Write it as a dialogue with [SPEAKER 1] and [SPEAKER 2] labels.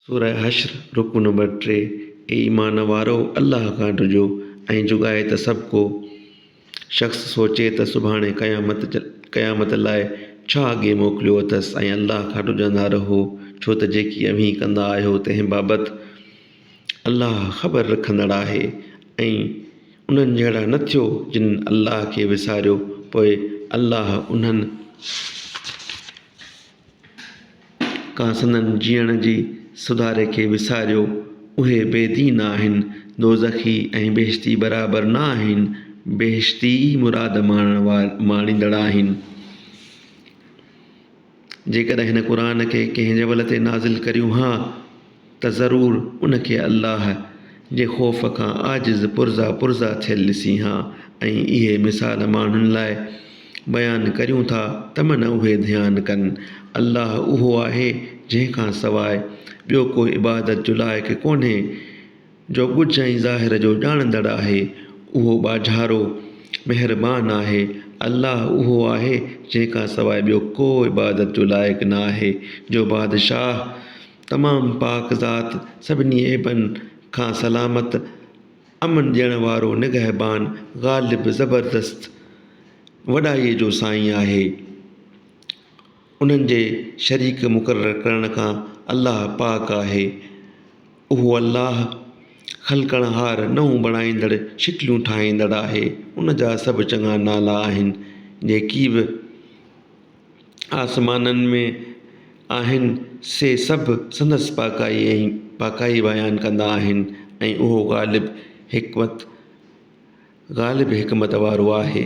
[SPEAKER 1] سورة حشر، رڪوع نمبر ٽي، اي ايمان وارؤ! الله کان ڊڄو ۽ جوڳائي ته سڀ ڪو شخص سوچي ته سڀاڻي قيامت قيامت لاء ڇا اڳي موڪليو اٿس ۽ الله کان ڊڄندا رهو ڇو ته جيڪي اوهين ڪندا آهيو تنهن بابت الله خبر رکندڙ آهي ۽ انهن جهڙا نه ٿيو جن الله کي وساريو پوء الله انهن ڪا سندن جيئڻ جي سڌاري کي وساريو، اهي بي دين آهن، دوزخي ۽ بهشتي برابر نه آهن، بهشتي ئي مراد ماڻڻ وار ماڻيندڙ آهن. جيڪڏهن هن قرآن کي ڪنهن جبل تي نازل ڪريون ها. ته ضرور ان کي الله جي خوف کان عاجز پرزا پرزا ٿيل ڏسين ها ۽ اهي مثال ماڻهن لاء بيان ڪريون ٿا ته من اهي ڌيان ڪن. الله اهو آهي جنهن کان سواء ٻيو ڪو عبادت جو لائق ڪونهي جو ڳجهه ۽ ظاهر جو ڄاڻندڙ آهي، اهو ٻاجهارو، مهربان، آهي. الله اهو آهي جنهن کان سواء ٻيو ڪو عبادت جو لائق نه آهي جو بادشاهه، تمام پاڪ ذات سڀني عيبن کان سلامت امن ڏيڻ وارو نگهبان غالب زبردست وڏائي جو سائين آهي انهن جي شريڪ مقرر ڪرڻ کان الله پاڪ آهي اهو الله خلقڻ هار نئون بڻائيندڙ شڪليون ٺاهيندڙ آهي ان جا سڀ چڱا نالا آهن جيڪي به آسمانن ۾ آهن سي سڀ سندس پاڪائي ۽ پاڪائي بيان ڪندا آهن ۽ اهو غالب حڪمت غالب حڪمت وارو آهي